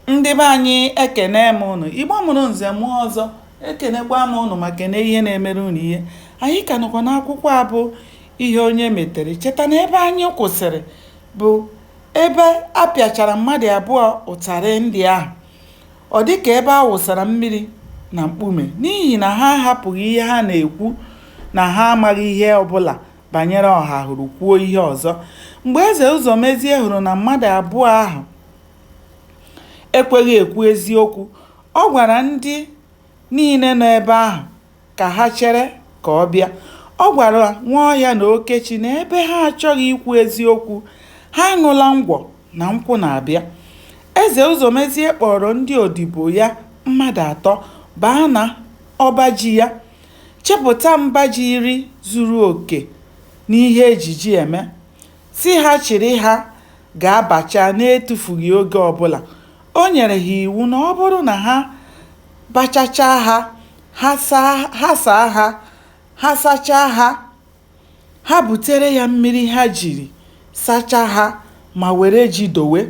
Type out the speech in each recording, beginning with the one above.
ndị be anyị ekene m ụnụ igbo mụrụ nze mụọ ọzọ ekenekwa m ụnụ ma kene ihe na-emere ụnụ ihe anyị ka nọkwa n'akwụkwọ a bụ ihe onye metere cheta na ebe anyị kwụsịrị bụ ebe a pịachara mmadụ abụọ ụtarị ndị ahụ ọ dị ka ebe a wụsara mmiri na mkpume n'ihi na ha ahapụghị ihe ha na-ekwu na ha amaghị ihe ọbụla banyere ọhahụrụ kwuo ihe ọzọ mgbe eze ụzọmezie hụrụ na mmadụ abụọ ahụ ekweghị ekwu eziokwu. Ọ gwara ndị niile nọ ebe ahụ ka ha chere ka ọ bịa. Ọ gwara Nwaọhịa na Okechi na ebe ha achọghị ikwu eziokwu, ha aṅụla ngwọ na nkwụ na-abịa. Eze Ụzọmezie kpọrọ ndị odibo ya mmadụ atọ baa na ọba ji ya, chịpụta mba ji iri zuru oke n'ihe e ji ji eme. Sị ha chịrị ha gaa bachaa n'etufughị oge ọbụla. O nyere ha iwu na ọ bụrụ na ha bachachaa ha, ha saa ha, ha sachaa ha, ha butere ya mmiri ha jiri sachaa ha ma were ji dowe.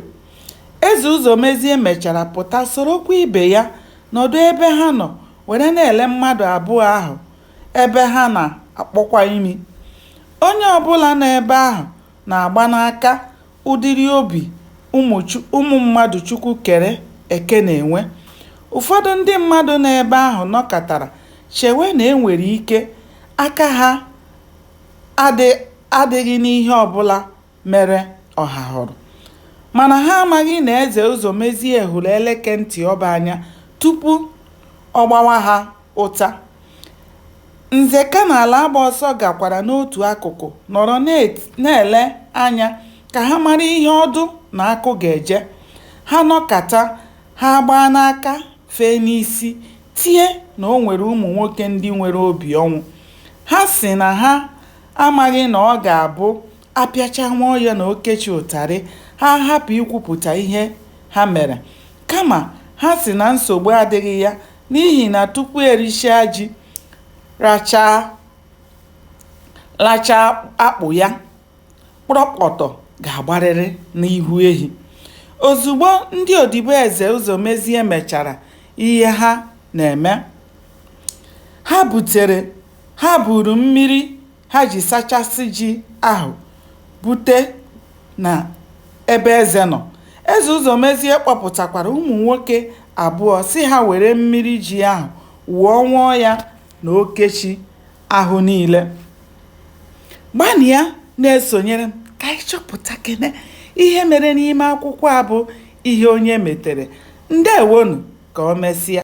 Eze Ụzọmezie mechara pụta sorokwa ibe ya nọdụ ebe ha nọ were na-ele mmadụ abụọ ahụ ebe ha na-akpọkwa imi. Onye ọbụla nọ ebe ahụ na-agba n'aka ụdịrị obi ụmụ mmadụ Chukwu kere eke na-enwe. Ụfọdụ ndị mmadụ nọ ebe ahụ nọkatara chewe na e nwere ike aka ha adịghị n'ihe ọbụla mere Ọhahụrụ. Mana ha amaghị na Eze Ụzọmezie hụrụ eleke ntị ọba anya tupu ọ gbawa ha ụta. Nzeka na Alaagbaọsọ gakwara n'otu akụkụ nọrọ na-ele anya ka ha mara ihe ọdụ na akụ ga-eje. Ha nọkata, ha agbaa n'aka, fee n'isi, tie na o nwere ụmụ nwoke ndị nwere obi ọnwụ. Ha sị na ha amaghị na ọ ga-abụ a pịachaa Nwaọhịa na Okechi ụtarị, ha ahapụ ikwupụta ihe ha mere. Kama, ha sị na nsogbu adịghị ya N'ihi na tupu e richaa ji, lachaa akpụ ya, kpọrọkpọtọ ga-agbarịrị n'ihu ehi. Ozugbo ndị odibo Eze Ụzọmezie mechara ihe ha na-eme, ha butere ha buuru mmiri ha ji sachasị ji ahụ bute na ebe eze nọ eze ụzọmezie kpọpụtakwara ụmụ nwoke abụọ sị ha were mmiri ji ahụ wụọ nwaọhịa na okechi ahụ niile gbanịa na-esonyere m ka anyị chọpụtakene ihe mere n'ime akwụkwọ a bụ ihe onye metere ndewo nụ ka o mesịa